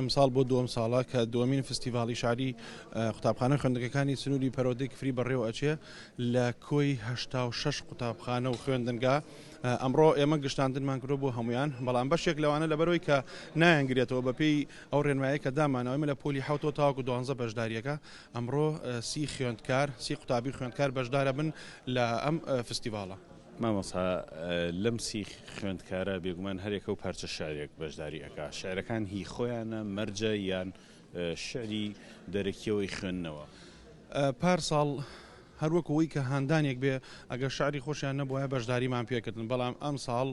ئەمساڵ بۆ دووەم ساڵە کە دووەمین فستیڤاڵی شاری قوتابخانە و خوێندنگەکانی سنووری پەرۆدەی کفری بەڕێوە ئەچێ لە کۆی هەشتا و شەش قوتابخانە و خوێندنگا ئەمڕۆ ئێمە گشتاندنمان کرۆ بۆ هەمویان بەڵام بەشێک لەوانە لەبەرەوەی کە نایەنگرێتەوە بەپێی ئەو ڕێنمایە کە دامانەوەمە لە پۆلی حوتەوە تاوەکو دوانزە بەشداریەکە ئەمڕۆ سی خوێندکار سی قوتابی خوێندکار بەشدارە بن لە ئەم فستیڤاڵە. مامۆستا لەم سی خوێندکارە بێگومان هەرێکە و پارچە شعرێک بەشداری ئەکا شعرەکان هی خۆیانە مەرجە یان شعری دەرەکیەوەی خوێندنەوە پارساڵ هەروەک ئەوەی کە هاندانێک بێ ئەگەر شاری خۆشیان نەبووە بەشداریمان پێکردن بەڵام ئەم ساڵ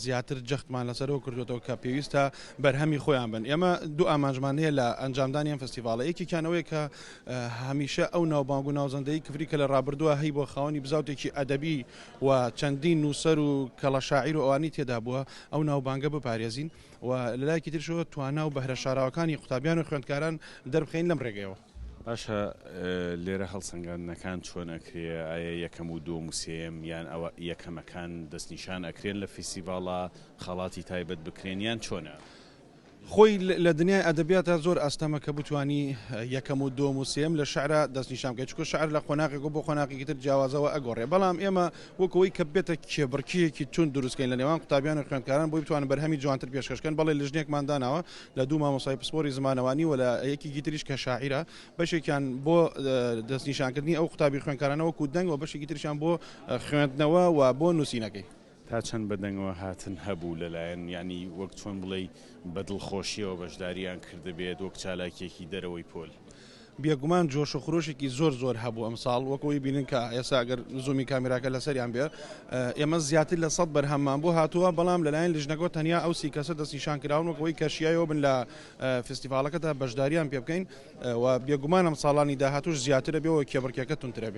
زیاتر جەختمان لەسەر ئەوە کردووەتەوە کە پێویستە بەرهەمی خۆیان بن ئێمە دوو ئامانجمان هەیە لە ئەنجامدانی ئەم فستیڤاڵە یەکێکیان ئەوەیە کە هەمیشە ئەو ناوبانگ و ناوزەندەی کفری کە لە ڕابردووە هەی بۆ خاوەنی بزاوتێکی ئەدەبی و چەندین نووسەر و کەڵە شاعیر و ئەوانی تێدا بووە ئەو ناوبانگە بپارێزین و لەلایکی ترشەوە توانا و بەهرە شاراوەکانی قوتابیان و خوێندکاران دەربخین لەم ڕێگەیەوە. باشە لێرە هەڵسەنگاندنەکان چۆن ئەکرێ ئایە یەکەم و دووەم و سێیەم یان ئەوە یەکەمەکان دەست نیشان ئەکرێن لە فیسیڤاڵا خەڵاتی تایبەت بکرێن یان چۆنە؟ خۆی لە دنیای ئەدەبیاتا زۆر ئاستەمە کە بتوانی یەکەم و دووەم و سێیەم لە شعرا دەست نیشان بکەی چونکە شعر لە قۆناغێکەوە بۆ قۆناغێکی تر جیاوازەوە ئەگۆڕێ بەڵام ئێمە وەک ئەوەی کە بێتە کێبڕکێیەکی توند دروستکەین لە نێوان قوتابیان و خوێندکاران بۆی بتوانن بەرهەمی جوانتر پێشکەش کەن بەڵێ لیژنێکمان داناوە لە دوو مامۆستای پسپۆری زمانەوانی و لە یەکێکی تریش کە شاعیرە بەشێکیان بۆ دەستنیشانکردنی ئەو قوتابی خوێندکارانە وەکو دەنگ و بەشێکی تریشیان بۆ خوێندنەوە و بۆ نووسینەکەی تا چەند بە دەنگەوە هاتن هەبوو لەلایەن یانی وەک چۆن بڵێی بە دڵخۆشیەوە بەشداریان کردبێت وەک چالاکیەکی دەرەوەی پۆل. بێگومان جۆش و خرۆشێکی زۆر زۆر هەبوو ئەمساڵ وەک ئەوەی بینن کە ئێستا گەر زوومی کامیراکە لەسەریان بێ ئێمە زیاتر لە سەد بەرهەممان بۆ هاتووە بەڵام لەلایەن لژنەکەەوە تەنیا ئەو سی کەسە دەستنیشان کراون وەک ئەوەی کەشیایەوە بن لە فستیڤالەکەدا بەشداریان پێ بکەین و بێگومانم ساڵانی داهاتوش زیاترە بێەوە کێبڕکێکە تونترە بێ